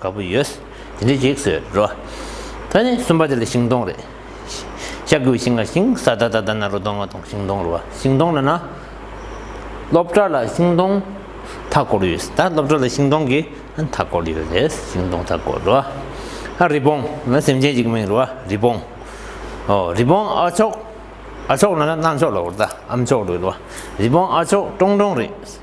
དགའ་པོ་ཡོད། དེ་འདྲའི་གེགས་སུ་རོ། ད་ནི་གསུམ་པ་དེ་ལ་ཤིང་སྡོང་རེད། ཤ་ཀུའི་ཤིང་ལ་ཤིང་བཟའ་ད་ད་ད་ན་རོ་སྡོང་ང་སྡོང་ཤིང་སྡོང་རོ་བ་ཤིང་སྡོང་ལ་ན། སློབ་གྲྭ་ལ་ཤིང་སྡོང་མཐའ་བསྐོར་ཡོད་ད་སློབ་གྲྭ་ལ་ཤིང་སྡོང་གི་མཐའ་བསྐོར་ཡོད་རེད་ཤིང་སྡོང་མཐའ་བསྐོར་རོ། ཨ་རི་བོང་ང་སེམས་ཅན་གཅིག་མིང་རོ་བ་རི་བོང། ཨོ་རི་བོང་ཨ་ཆོག་ཨ་ཆོག་ལ་ན་རྣ་མཆོག་ལ་བོར་ད་ཨ་མཆོག་རེད་རོ་བ་རི་བོང་ཨ་ཆོག་ཀྲོང་ཀྲོང་རེད།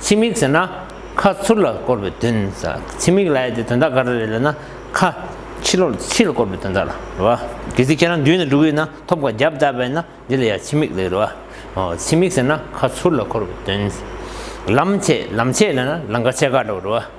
ཕྱི་མིག་ཟེར་ན། ཁ་ཚུར་ལ་བསྐོར་བའི་དོན། ཕྱི་མིག་ལ་ཡ་དེ་དོན་དག་ག་རེ་རེད་ལབ་ན། ཁ་ཕྱི་ལོག་ལ་ཕྱི་ལ་བསྐོར་བའི་དོན་དག་ལ་རེད་བ། གལ་སྲིད་ཁྱེད་རང་མདུན་ན་འགྲོ་གི་ཡོད་ན་ཐོབ་ཁ་རྒྱབ་བཏགས་པས་ན་འདི་ལ་ཡ་ཕྱི་མིག་ལ་རེད་བ། ཕྱི་མིག་ཟེར་ན་ཁ་ཚུར་ལ་བསྐོར་བའི་དོན། ལམ་ཆས་ལམ་ཆས་ལ་ན་ལང་ཀ་ཆས་ཀ་འདྲ་བོ་རེད་བ།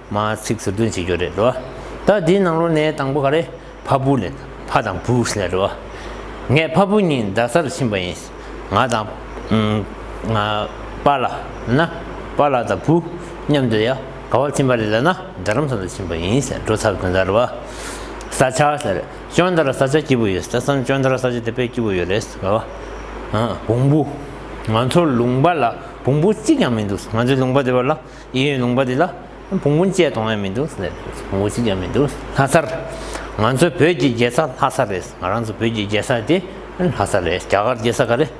མ་ཚིག་ཟུར་བཏོན་བྱེད་རྒྱུ་རེད་འགྲོ་བ། ད་དེའི་ནང་ལོ་ནའི་དང་པོ་ག་རེ། ཕ་བུ་ལས། ཕ་དང་བུ་ཞེས་ལས་འགྲོ་བ། ངས་ཕ་བུ་གཉིས་རྡ་སར་ཕྱིན་པ་ཡིན། ང་དང། ང། པ་ལ། ན། པ་ལ་དང་བུ། མཉམ་དུ་ཡ། ག་བར་ཕྱིན་པ་རེད་ལ་ན་རྡ་རམ་ས་ལ་ཕྱིན་པ་ཡིན་ཞེས་འགྲོ་ཚར་དོན་དར་བ། ས་ཆ་ཞེས་རེད་ཅོན་དར་ས་ཆ་སྐྱིད་པོ་ཡོད་རེད་སམ་ཅོན་དར་ས་ཆ་དེ་དཔེ་སྐྱིད་པོ་ཡོད་རེད་ག་བ། བོང་བུ། ང་ཚོ་ལུང་པ་ལ་བོང་བུ་གཅིག་ཀྱང་མི་འདུག་ང་ཚོའི་ལུང་པ་དེ་བ་ལ། ཡིན་ཡོད་ལུང་པ་འདི་ལ་བོང་བུ་བཅས་གཏོང་ཡ་མི་འདུག་ཟེར་བོང་བུ་བཅས་ཀྱང་མི་འདུག་ལྷ་སར་ང་ཚོ་བོད་ཀྱི་རྒྱལ་ས་ལྷ་ས་རེད་ང་རང་ཚོ་བོད་ཀྱི་རྒྱལ་ས་དེ་ལྷ་ས་རེད་རྒྱ་གར་རྒྱལ་ས་ག་རེད་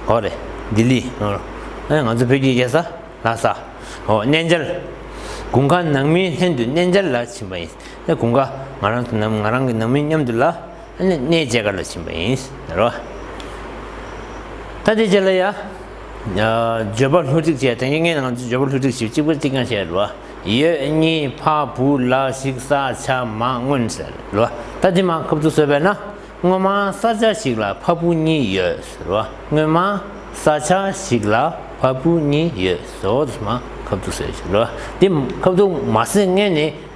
ཨོ་རེད་ལྡི་ལི་ཨོ་ང་ཚོ་བོད་ཀྱི་རྒྱལ་ས་ལྷ་ས་ཨོ་གནས་མཇལ་དགུན་ཁ་ནང་མིའི་ལྷན་དུ་གནས་མཇལ་ལ་ཕྱིན་པ་ཡིན་དགུན་ཁ་ང་རང་ཚོ་ནང་ང་རང་གི་ནང་མི་མཉམ་དུ་ལ་གནས་མཇལ་ག་ལ་ཕྱིན་པ་ཡིན་ཟེར་བ་ད་དེ་རྗེས་ལ་ཡ། བརྗོད་པ་ལྷུ་སྒྲིག་བྱས་དང་ཡིག་ངན་ངང་བརྗོད་པ་ལྷུ་སྒྲིག་བྱེད་གཅིག་པུ་གཅིག་རྐྱང་བྱས་ལ། ཡོད་གཉིས་ཕ་བུ་ལ་ཞིག་ས་ཆ་མ་མངོན་ཟེར་ལ། ད་འདི་མ་ཁབ་ཏུ་བཟོས་པས་ན། སྔོན་མ་ས་ཆ་ཞིག་ལ་ཕ་བུ་གཉིས་ཡོད་ཟེར་བ། སྔོན་མ་ས་ཆ་ཞིག་ལ་ཕ་བུ་གཉིས་ཡོད་ཟེར་བ། འདི་མ་ཁབ་ཏུ་བཟོས་ཟེར་ལ། འདི་ཁབ་ཏུ་མ་བཟོས་ངས་ནི།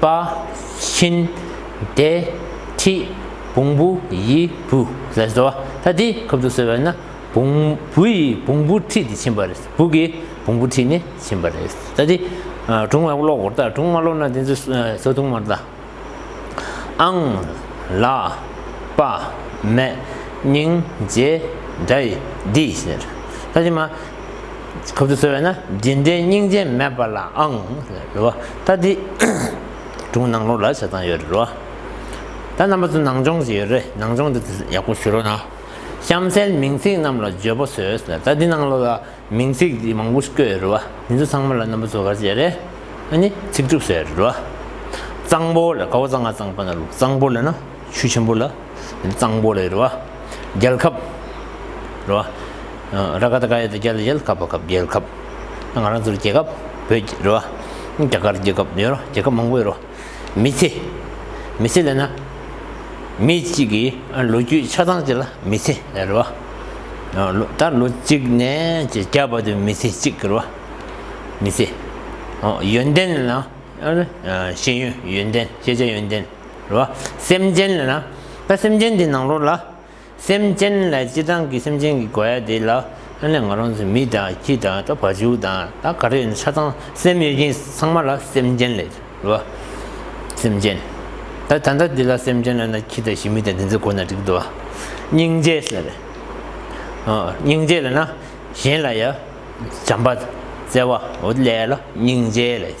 པ། ཤིན། བདེ། ཐིག། བོང་བུ། ཡི། བུ། ལས་སོ། ད་དེ་ཁབ་ཏུ་གསོལ་བས་ན། བོང། བུ་ཡིས་བོང་བུ་ཁྲིད་དེ་ཕྱིན་པ་རེད། བུ་གིས་བོང་བུ་ཁྲིད་ནས་ཕྱིན་པ་རེད། ད་དེ། དྲུང་མ་ལོག་གོ། དྲུང་མ་ལོག་ན་དེ་ཚོས་སོ་དུང་མར་བལྟ། ཨང། ལ། པ། མེ། སྙིང། རྗེ། འདྲ། ཡི། འདི། ཟེར། ད་དེ་མ། ཁབ་ཏུ་གསོལ་བས་ན་འདི་འདྲའི་སྙིང་རྗེ་མེད་པ་ལ་ཨང། རེད་བ། ད་འདི། དྲུང་ནང་ལོག་ལ་བྱ་ཚང་ཡོད་རེད་བ། ད་རྣམ་པ་ཚོ་ནང་སྦྱོང་བྱེད་ཡོད་རེད་ནང་སྦྱོང་འདི་ཡག་པོ་ཞུ་རོགས་གནང། གཤམ་གསལ་མིང་ཚིག་རྣམས་ལ་བརྗོད་པོ་བཟོས། ད་འདི་ནང་ལོག་ལ་མིང་ཚིག་འདི་མང་པོ་བཀོད་ཡོད་རེད་བ། འདི་ཚོ་ཚང་མ་ལ་རྣམ་པ་ཚོ་ག་བྱེད་རེད། ཨ་ནི་ཚིག་གྲུབ་བཟོས་ཡོད་རེད་བ། གཙང་པོ་ལ་གའུ་གཙང་ང་གཙང་པ་ན་ལུག་གཙང་པོ་ལ་ན་ཆུ་ཆེན་པོ་ལ། གཙང་པོ་རེད་རེད་བ། རྒྱལ་ཁབ། རེད་བ། ར་ཁ་ད་ཁ་ཡེ་ད་རྒྱལ་ད་རྒྱལ་ཁབ་པ་ཁབ་རྒྱལ་ཁབ། ང་རང་ཚོར་རྒྱལ་ཁབ་བོད་རེད་བ། རྒྱ་གར་རྒྱལ་ཁབ་ཡོད་རོ་རྒྱལ་ཁབ་མང་པོ་ཡོད་རོ། མི་ཚེ། མི་ཚེ་ལས་ན། མི་གཅིག་གི་ལོ་རྒྱུས་ཆ་ཚང་བྱས་ལ་མི་ཚེ་རེད་བ། ད་ལོ་གཅིག་ནས་བརྒྱ་བར་དུ་མི་ཚེ་གཅིག་རེད་བ། མི་ཚེ། ཡོན་ཏན་ལ། ཤེས་ཡོན་ཡོན་ཏན་ཤེས་བྱ་ཡོན་ཏན། རེད་བ། སེམས་ཅན་ལ་ན། ད་སེམས་ཅན་དེ་ནང་རོ་ལ། སེམས་ཅན་ལ་སྤྱི་དང་གི་སེམས་ཅན་གི་གོ་ཡ་དེ་ལ། ཨ་ནི་ང་རང་ཚོ་མི་དང་ཁྱི་དང་ད་བ་ཆུ་དང་ད་ག་རེ་ཡིན་ཤ་ཚང་སེམས་ཡོད་ཀྱིན་ཚང་མ་ལ་སེམས་ཅན་ལས་རེད་བ། སེམས་ཅན། ད་ད་ནྡ་དེ་ལ་སེམས་ཅན་ལ་ན་ཁྱི་དང་ཤི་མི་དང་དེ་ཚོའི་གོ་ན་འགྲིག་འདུག་བ། སྙིང་རྗེ་ཟེར་རེད། ཨོ་སྙིང་རྗེ་ལ་ན་གཞན་ལ་ཡ་བྱམས་པ་བརྩེ་བ་འོ་དེ་ལས་ལ་སྙིང་རྗེ་ལས།